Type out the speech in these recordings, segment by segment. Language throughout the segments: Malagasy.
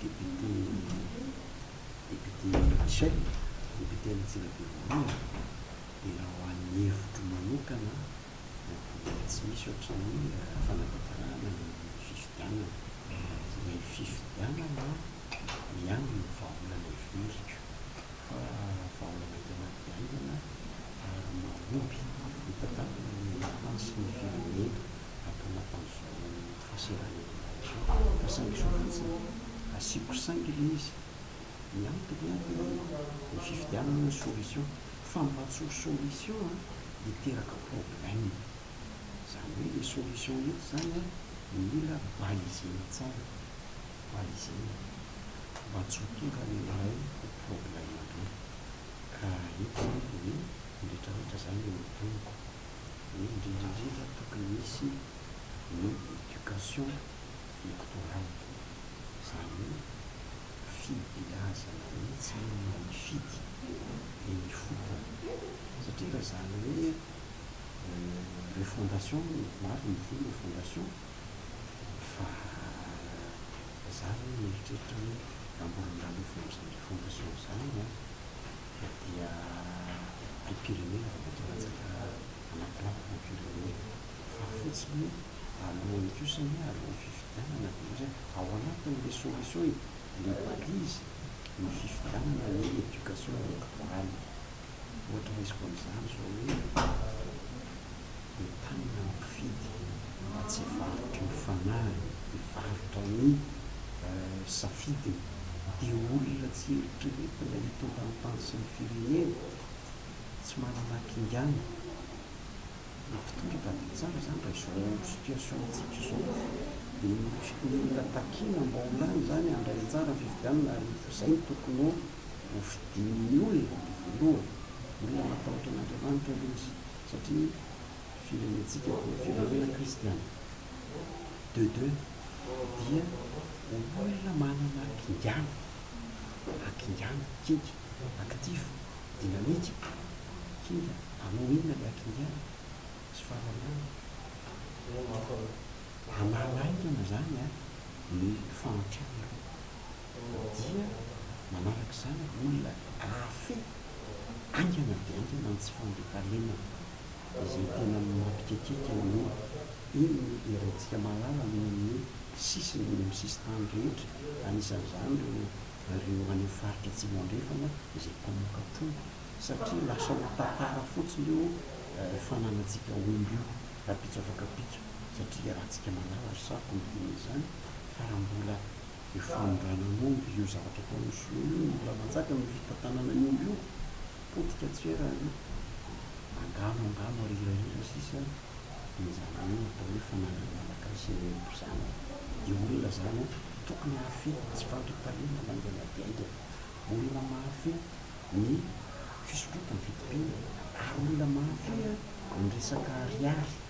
député député Michel, député any Antsirabe Voalohany, dia raha ho an'ny hevitro manokana dia tsy misy ohatran'ny fanatanterahana ny fifidianana. Ny fifidianana ihany no vahaolana iveriko fa vahaolana tena be haingana ary mahomby hitantanana ny hasin'ny firenena. ampanaovina izao fahaserana izao fa saingy izao fotsiny asiako saingy ilay izy ny antony an dia ny fifidianana no solution fa mba tsy ho solution an hiteraka problème izany hoe ilay solution eto izany an mila balisena tsara balisena mba tsy ho tonga ny an'ilay ho problème be ka eto izany dia hoe ny rehetra rehetra izany no teniko hoe indrindra indrindra tokony hisy ny éducation électorale, izany hoe fibeazana mihitsy ny maha hifidy eny ifotony, satria raha izany hoe refondation no marina, ny fo refondation fa za aloha mieritreritra hoe amboarin-dRalefondro izany refondation izany an! dia ny firenena vao mainka latsaka anaty lapaky ny firenena fa fotsiny hoe alohan'ny kosa anie alohan'ny fifidianana dia ohatry hoe ao anatin'ilay solution e, ilay balizy ny fifidianana ny éducation électorale ohatra raisiko amin'izany izao hoe Entanina ny mpifidy mba tsy hivarotry ny fanahiny, hivarotra ny safidiny. Dia olona tsy eritreretina hitondra ny tany sy ny firenena, tsy manana hakingana. Ny mpitondra tadidio tsara izany raha izao situation-tsika izao. Dia ny olona takiana mba ho lany izany handray anjara amin'ny fifidianana ary izay no tokony ho hofidian'ny olona voalohany. Olona matahotra an'Andriamanitra aloha izy. satria firenentsika dia firenena kristiana, de deux dia ho olona manana akingana, akingana, kinga, actif, dynamique, kinga, hanao inona ilay akingana? sy fahalalana, hanala aingana izany ny fahantrana aloha. Ny dia manaraka izany ny olona ahafe haingana dia haingana ny tsy fandriampahalemana izay tena mampikekeka eo an'io. Iny no herentsika malala eny amin'ny sisiny, eny amin'ny sisintany rehetra, anisan'izany ireo ireo any amin'ny faritra Atsimo Andrefana izay mpamoaka trondro satria lasa ho tantara fotsiny io fananantsika omby io rahampitso afaka mpitso satria raha antsika malala ry saroko midina izany fa raha mbola Io fanondrana omby, io zavatra ataon'ny sinoa io, ny mbola manjaka amin'ny fitantanana ny omby io, potika tsy ela ary angano angano ary hirahira sisa dia izany hoe ny atao hoe fananan'ny malagasy ny omby izany, dia olona izany an, tokony hahafehy ny tsy fandriampahalemana haingana dia haingana, olona mahafehy ny fisondrotana, ny fitobiana ary olona mahafehy ny resaka ariary.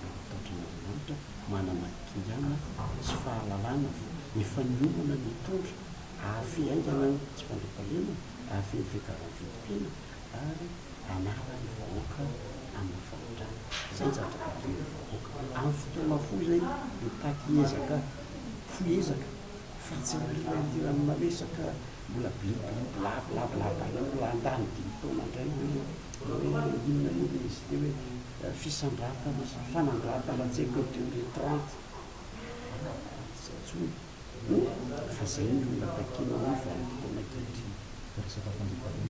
Raha matahotra an'Andriamanitra, manana kingana sy fahalalana fa efa niomana ny hitondra, hahafehy haingana ny tsy fandriampahalemana, hahafehy ny fiakaran'ny vidim-piainana ary hanala ny vahoaka amin'ny fahantrana. Izay ny zavatra takin'ny vahoaka. Amin'ny fotoana fohy izay, mitaky ezaka, fohy ezaka fa tsy aoriana ity raha manao resaka mbola bli bli bla bla bla bla, mbola handany dimy taona indray hoe hoe inona io le izy ity hoe. fisandratana sy fanandratana tsy haiko deux mille trente angamba tsy antsoina fa zay no olona takiana amin'ny vanim-potoana ankehitriny.